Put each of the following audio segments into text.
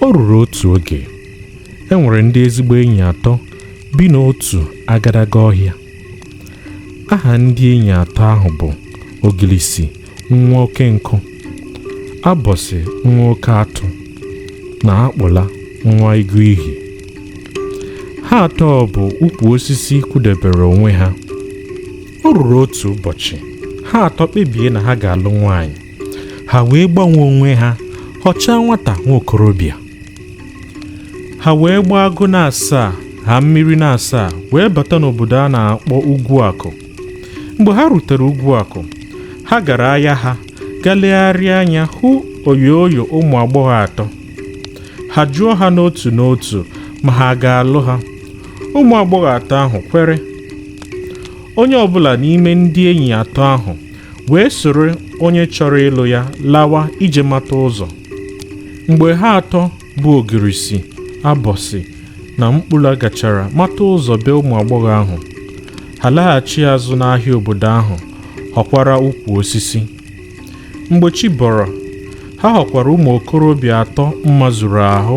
o ruru otu oge e nwere ndị ezigbo enyi atọ bi n'otu agadaga ọhịa aha ndị enyi atọ ahụ bụ ogilisi nwa oke nkụ abọsị nwa oke atụ na akpụla nwa ịgụ ihe ha atọ bụ ukwu osisi kwụdebere onwe ha o ruru otu ụbọchị ha atọ kpebie na ha ga-alụ nwaanyị ha wee gbanwee onwe ha họchaa nwata nwa okorobịa ha wee gbaa agụ na-asaa ha mmiri na-asaa wee bata n'obodo a na-akpọ ugwu akụ mgbe ha rutere ugwu akụ ha gara ahịa ha gaa legharịa anya hụ oyoyo ụmụ agbọghọ atọ ha jụọ ha n'otu n'otu ma ha ga-alụ ha ụmụ agbọghọ atọ ahụ kwere onye ọbụla n'ime ndị enyi atọ ahụ wee soro onye chọrọ ịlụ ya lawa ije mata ụzọ mgbe ha atọ bụ ogirisi abọsị na mkpụla gachara mata ụzọ be ụmụ agbọghọ ahụ ha laghachi azụ n'ahịa obodo ahụ họkwara ukwu osisi mgbe chi bọrọ ha họkwara ụmụ okorobịa atọ mma zuru ahụ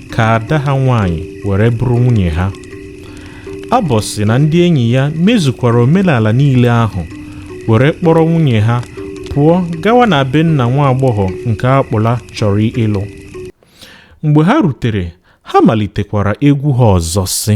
ka ada ha nwaanyị were bụrụ nwunye ha abọsị na ndị enyi ya mezukwara omenala niile ahụ were kpọrọ nwunye ha pụọ gawa na be nna nwa agbọghọ nke akpụla chọrọ ịlụ mgbe ha rutere ha malitekwara egwu ha ọzọ sị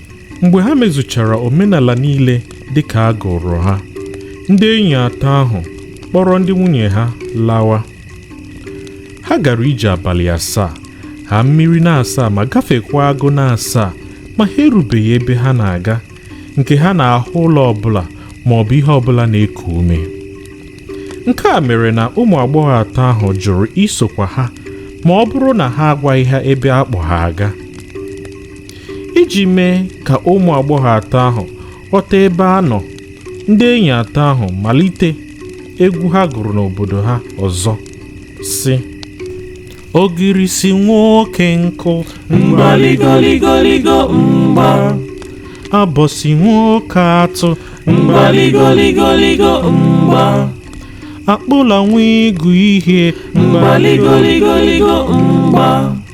mgbe ha mezuchara omenala niile dị ka a gụrụ ha ndị enyi atọ ahụ kpọrọ ndị nwunye ha lawa ha gara ije abalị asaa ha mmiri na-asaa ma gafekwa agụ na-asaa ma ha erubeghị ebe ha na-aga nke ha na-ahụ ụlọ ọbụla ma ọ bụ ihe ọbụla na-eku ume nke a mere na ụmụ agbọghọ atọ ahụ jụrụ isokwa ha ma ọ bụrụ na ha agwaghị ha ebe a kpọ ha aga iji mee ka ụmụ agbọghọ atọ ahụ ghọta ebe a nọ ndị enyi atọ ahụ malite egwu ha gụrụ n'obodo ha ọzọ sị ogirisi nwa oke nkụ mgbaligoligo mgba abọsị nwa oke atụ mgbaligoligo mgba akpụla nwa ịgụ ihe mgbaligoligo mgba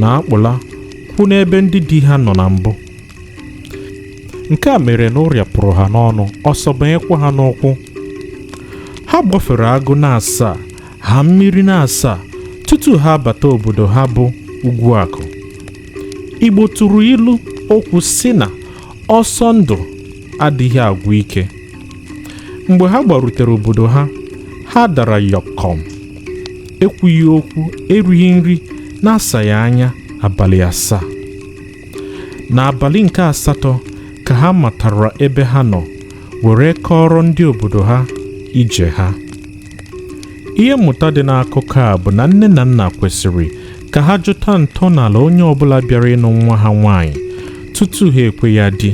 na akpụla kwụ n'ebe ndị di ha nọ na mbụ nke a mere na ụrịa pụrụ ha n'ọnụ ọsọ banyekwa ha n'ụkwụ ha gbafere agụ na-asaa ha mmiri na-asaa tutu ha abata obodo ha bụ Ugwuakụ Igbo tụrụ ilu okwu sị na ọsọ ndụ adịghị agwụ ike mgbe ha gbarutere obodo ha ha dara yọkọm ekwughị okwu erighị nri na-asaghị anya abalị asaa n'abalị nke asatọ ka ha matara ebe ha nọ were kọọrọ ndị obodo ha ije ha ihe mmụta dị n'akụkọ a bụ na nne na nna kwesịrị ka ha jụta ntọala onye ọbụla bịara ịnụ nwa ha nwaanyị tutu ha ekwe ya di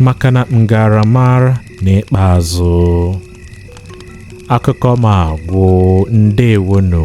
maka na m gaara mara n'ikpeazụ akụkọ m agwụ ndewonụ